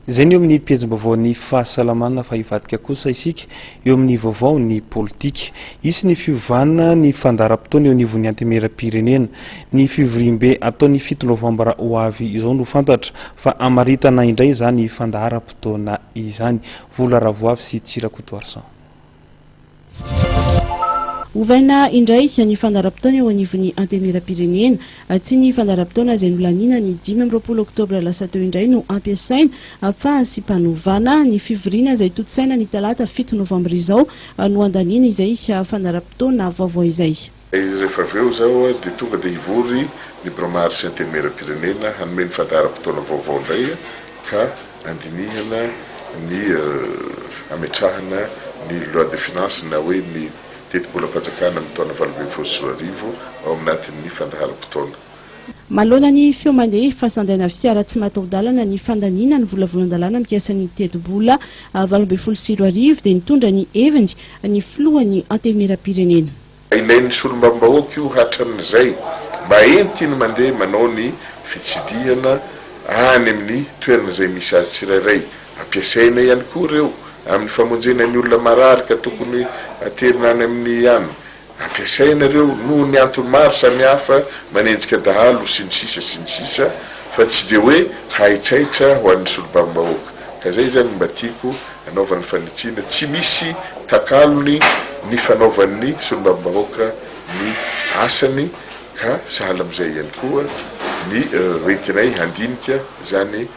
Izay ny eo amin'ny pejim-baovao ny fahasalamana fa hivadika kosa isika eo amin'ny vaovao ny politika. Hisy ny fiovana ny fandaharam-potoana eo anivon'ny Antemieram-pirenena. Ny fivoriambe atao ny fito novambra ho avy izao no fantatra fa hamaritana indray izany fandaharam-potoana izany. Vola Ravoavy sy Tsy Rakotoarison. Ovaina indray ny fandaharam-potoana eo anivon'ny Antenimierampirenena. Tsy ny fandaharam-potoana izay nolaniana ny dimy amby roapolo oktobra lasa teo indray no ampiasaina fa fahasimpanovana. Ny fivoriana izay tontosaina ny talata fito novambra izao no andaniana izay fandaharam-potoana vaovao izay. Rehefa avy eo izao dia tonga dia hivory ny Biraom-ary sy Antenimieram-pirenena hanome ny fandaharam-potoana vaovao indray ka handinihana ny hametrahana ny Loi de Finances na hoe ny tetibolam-panjakana amin'ny taona valo ambin'ny folo sy roa arivo ao anatin'ny fandaharam-potoana. Manoloana ny feo mandeha fa sandaina fiara tsy mataho-dalana ny fandaniana ny volavolan-dalàna mikasa ny tetibola valo ambin'ny folo sy roa arivo dia nitondra ny heviny ny filohan'ny Antenimieram-pirenena. Ilain'ny solombavambahoaka io hatramin'izay mba entiny mandeha manao ny fitsidihana any amin'ny toerana izay misy azy tsirairay. Ampiasaina ihany koa ireo amin'ny famonjena ny olona marary ka tokony haterina any amin'ny an. Ampiasaina ireo noho ny antony maro samihafa manenjika dahalo sy ny sisa sy ny sisa fa tsy dia hoe haitraitra ho an'ny solombavambahoaka ka izay izany no mba tiako anaovany fanitsiana tsy misy takalony ny fanaovan'ny solombavambahoaka ny asany ka sahala amin'izay ihany koa ny hoentinay handinika izany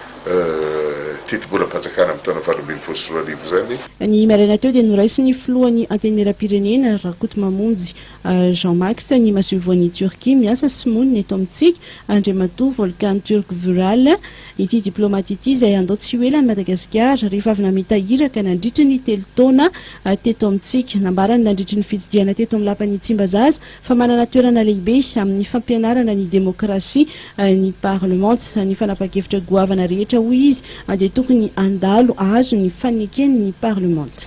tetibolam-panjakana amin'ny taona valo ambin'ny folo sy roa arivo izany. Ny maraina teo dia noraisin'ny filohan'ny Antenimierampirenena, Rakotomamonjy Jean Max ny masoivohon'i Turquie miasa sy monina eto amintsika, Andriamatoa Volkan Turk Vural, ity diplaomaty ity izay handao tsy ho ela an'i Madagasikara rehefa avy namita iraka nandritry ny telo taona teto amintsika. Nambarany nandritry ny fitsidihana teto amin'ny Lapan'i Tsimbazaza fa manana toerana lehibe amin'ny fampianarana ny demokrasia ny parlemanta. Ny fanapan-kevitra goavana rehetra hoy izy dia tokony handalo hahazo ny faneken'ny parlemanta.